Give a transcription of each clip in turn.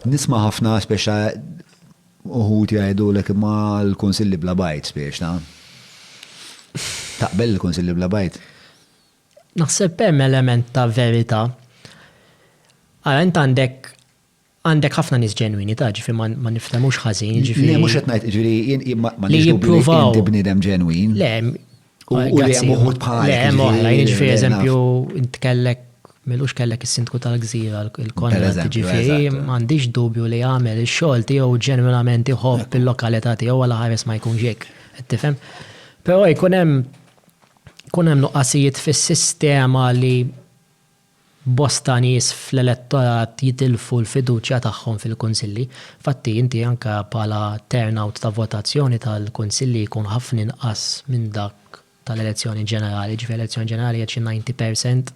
Nisma' ħafna spiex ta' uħud jgħidulek imma l-kunsilli bla bajt spiex ta' taqbel l-kunsilli bla bajt? Naħseb hemm element ta' verità. Ara int għandek għandek ħafna nies ġenwini ta' ġifi ma niftemux ħażin ġifi. Le mhux qed ngħid ġifi ma nix li inti bniedem ġenwin. Le, U li hemm uħud bħal. Le hemm oħra, jien ġifieri eżempju intkellek Milux kellek is-sindku tal-gżira, il-kontra ġifieri, m'għandix dubju li għamel ix-xogħol tiegħu ġenwinament iħobb il-lokalità tiegħu għal ħares ma jkunx hekk. Qed tifhem? Però jkun hemm jkun hemm nuqqasijiet fis-sistema li Bosta nies fl-elettorat jitilfu l-fiduċja tagħhom fil-kunsilli. Infatti, inti anke bħala turnout ta' votazzjoni tal-kunsilli jkun ħafna inqas minn dak tal-elezzjoni ġenerali. Jiġifieri elezzjoni ġenerali qiegħed xi ninety percent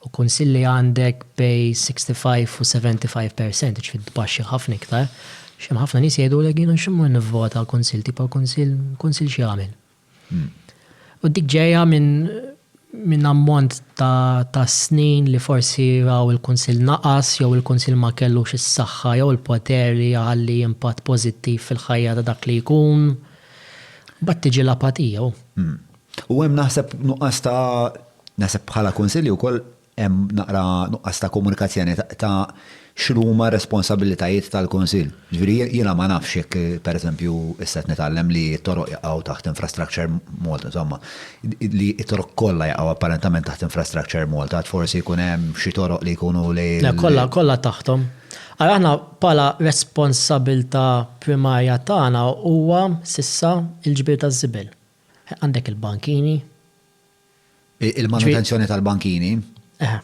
u kunsilli għandek bejn sixty five u seventy five percent, jiġifieri tbaxxi ħafna iktar. Għax hemm ħafna nies jgħidulek jiena x'immur nivvota għal kunsill, tipo kunsill, kunsill x'jagħmel? U dik ġejja minn ammont ta' snin li forsi raw il-Kunsill naqas jew il-Kunsill ma kellux is-saħħa jew il-poter li jħalli impatt pożittiv fil-ħajja ta' dak li jkun. Mbagħad tiġi l-apatija. U hemm naħseb nuqqas ta', naħseb bħala Kunsilli wkoll, Hemm naqra nuqqas ta' komunikazzjoni ta' x'inhuma r-responsabbilitajiet tal-Kunsill. Jiġifieri jiena ma nafx jekk pereżempju issa qed nitgħallem li t-toroq jaqgħu taħt Infrastructure Malta, insomma, li t-toroq kollha jaqgħu apparentament taħt Infrastructure Malta, għad forsi jkun hemm xi toroq li jkunu li. Le, kollha, kollha taħthom. Ara aħna bħala responsabbiltà primarja tagħna huwa s'issa l-ġbir taż-żibel. Għandek il-bankini. Il-manutenzjoni tal-bankini. Eħe.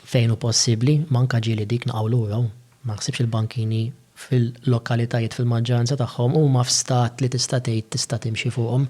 Fejn hu possibbli, manka ġieli dik naqgħu lura hu. Ma naħsibx il-bankini fil-lokalitajiet fil-maġġoranza tagħhom huma f'stat li tista' tgħid tista' timxi fuqhom.